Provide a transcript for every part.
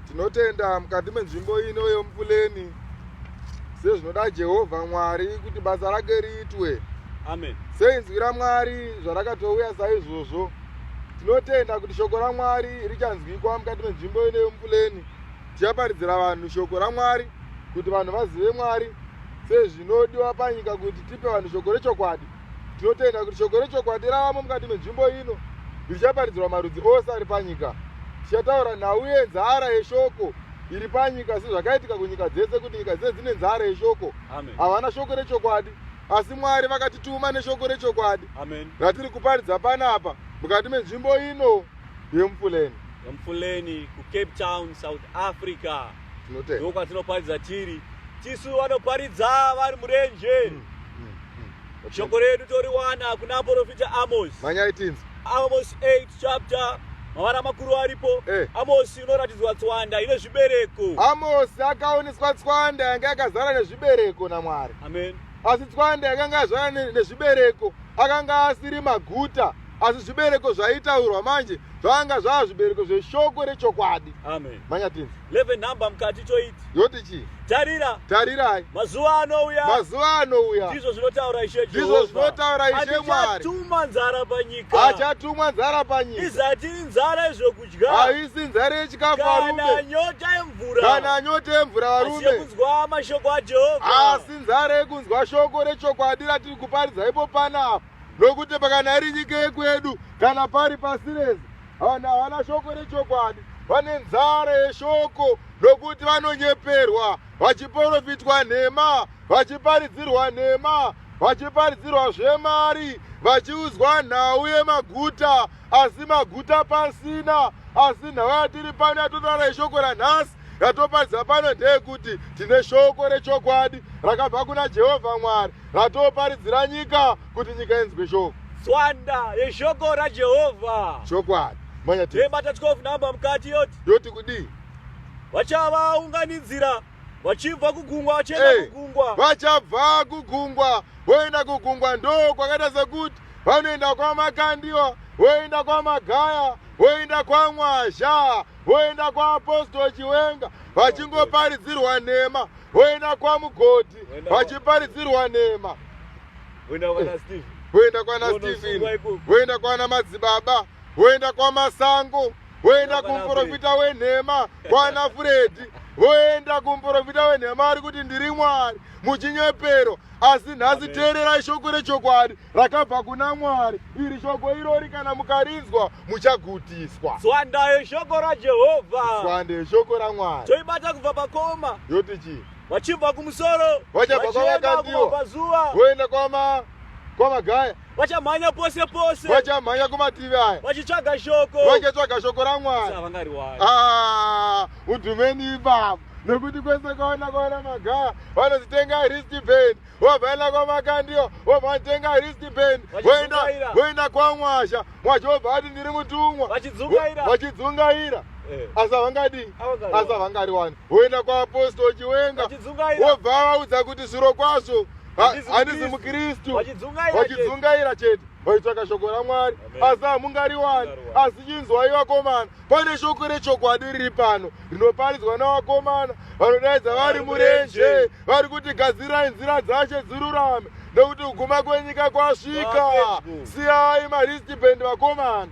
tinotenda mukati menzvimbo ino yomupuleni sezvinoda jehovha mwari kuti basa rake riitwe amen seinzwi ramwari zvarakatouya saizvozvo tinotenda kuti shoko ramwari richanzwikwa mukati menzvimbo ino yomupuleni tichaparidzira vanhu shoko ramwari kuti vanhu vazive mwari sezvinodiwa panyika kuti tipe vanhu shoko rechokwadi tinotenda kuti shoko rechokwadi ravamo mukati menzvimbo ino richaparidzirwa marudzi ose ari panyika tichataura nhau yenzara yeshoko iri panyika sezvakaitika kunyika dzese kuti nyika dzese dzine nzara yeshoko havana shoko rechokwadi asi mwari vakatituma neshoko rechokwadi ratiri kuparidza panapa mukati menzvimbo ino yemufuleni yemufuleni kucape town south africa Tinotenda. ndokwatinoparidza tiri tisu vanoparidza vari murenje Mm, mm, mm. shoko redu toriwana kuna profita amos Manyai tinzi. amos 8 chapter mavara makuru aripo Eh. amosi inoratidzwa tswanda ine zvibereko Amosi akaoneswa tswanda yanga yakazara nezvibereko naMwari. amen asi tswanda yakanga yazvara nezvibereko akanga asiri maguta asi zvibereko zvaitaurwa manje zvakanga zvava zvibereko zveshoko rechokwadi amen manya tinzi leve nhamba mukati choiti yoti chii tarira tarirai mazuva anouya mazuva anouya ndizvo zvinotaura ishe ndizvo zvinotaura ishe mwari achatumwa nzara panyika achatumwa nzara panyika izati inzara izvoku haisi nzara yechikafu varume kana nyota yemvura kana nyota yemvura varume kunzwa mashoko aJehovha asi nzara yekunzwa shoko rechokwadi ratiri kuparidza ipo panapa nokuti pakana iri nyika yekwedu kana pari pasi rese vanhu havana shoko rechokwadi vane nzara yeshoko nokuti vanonyeperwa vachiporofitwa nhema vachiparidzirwa nhema vachiparidzirwa zvemari vachiudzwa nhau yemaguta asi maguta pasina asi nhau yatiri pano yatotaura yeshoko ranhasi ratoparidza pano ndeyekuti tine shoko rechokwadi rakabva kuna jehovha mwari ratoparidzira nyika kuti nyika inzwe shoko tswanda yeshoko rajehovha chokwadi manyati yebata 12 namba mukati yoti yoti kudii vachavaunganidzira vachibva kugungwa vachienda hey, eh, kugungwa vachabva kugungwa voenda kugungwa ndo kwakaita sekuti vanoenda kwamakandiwa voenda kwamagaya voenda kwamwazha voenda kwaaposto chiwenga vachingoparidzirwa nhema voenda kwamugoti vachiparidzirwa nhema voenda kwana stephen voenda kwana madzibaba voenda kwamasango voenda kumuprofita wenhema kwana fredi voenda kumuprofita wenhema ari kuti ndiri mwari muchinyepero asi nhasi teererai shoko rechokwadi rakabva kuna mwari iri shoko irori kana mukarinzwa muchagutiswa swandayo shoko rajehovha swandayo shoko ramwari toibata kubva pakoma yoti chii vachibva kumusoro vachabva kwavakandiwa voenda kwama kwamagaya vachamhanya pose pose vachamhanya kumativi aya vachitsvaga shoko vachitsvaga shoko ramwari ah, udhumeni ipapo nekuti kwese kwaona kwaona magaa vanozitenga ristband wobvaenda kwamakandiyo wobvatenga ristband woenda kwamwasha mwasha wobva ati ndiri mutumwa vachidzungaira eh. asi havangadi asi havangariwani woenda kwaapostochiwenga wobva vaudza kuti zviro kwazvo handizi mukristu wachidzungaira chete waitsvaka shoko ramwari asi hamungariwani asi chinzwai vakomana pane shoko rechokwadi riri pano rinoparidzwa navakomana vanodaidza vari murenje vari kuti gadzirai nzira dzache dzirurame nekuti kuguma kwenyika kwasvika siyai maristi bendi vakomana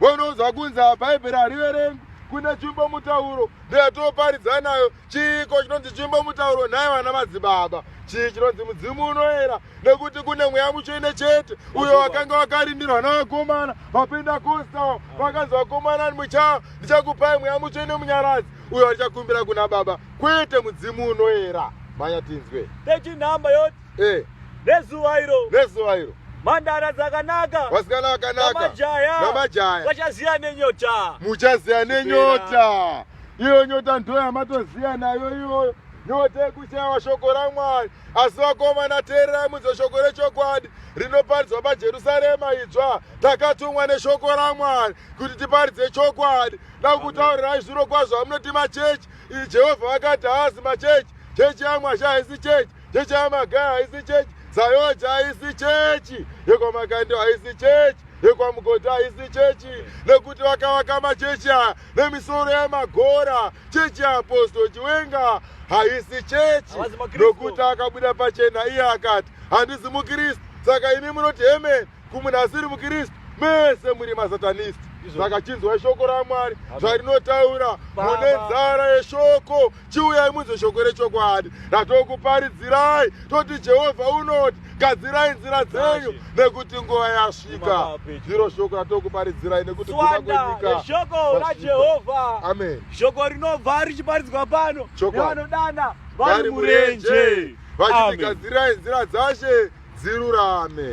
Vonoza kunza Bhaibheri hariverengi kune chimbo mutauro ndoyatoparidza nayo chiiko chinonzi chimbo mutauro nhai vana madzibaba chii chinonzi mudzimu unoera nekuti kune mweya mutsvene chete uyo wakanga wakarindirwa navakomana vapinda kostawo vakanzi vakomana muchaa ndichakupai mweya mutsvene munyaradzi uyo achakumbira kuna baba kwete mudzimu unoera mhanya tinzwe techinhamba yoti eh. nezuva iro nezuva iro mhandara dzakanaka vasikana vakanaka namajaya vachaziya nenyota muchaziya nenyota iyo nyota ndo yamatoziya nayo iyoyo nyota yekushaiwa shoko ramwari asi vakomana teererai mudzo shoko rechokwadi rinoparidzwa pajerusarema idzva takatumwa neshoko ramwari kuti tiparidze chokwadi dakutaurirai zviro kwazvo vamunoti machechi iyi jehovha vakati haazi machechi chechi yamwasha haisi chechi chechi yamagaya haisi chechi zayoja haisi chechi yekwamakando haisi chechi yekwamugodhi haisi chechi nekuti vakavaka machechi aya nemisoro yemagora chechi yeaposto chiwenga haisi chechi nokuti akabuda pachena iye akati handizi mukristu saka imi munoti hemeni kumunhu asiri mukristu mese muri masatanisti saka chinzwai shoko ramwari zvarinotaura mune nzara yeshoko chiuyai munzwe shoko rechokwadi ratokuparidzirai toti jehovha unoti gadzirai nzira dzenyu nekuti nguva yasvika ndiro shoko ratokuparidzirai nekuti kuaenyikashoko rajehovha amen shoko rinobva richiparidzwa pano nevanodana vari murenje vachiti gadzirai nzira dzashe dzirurame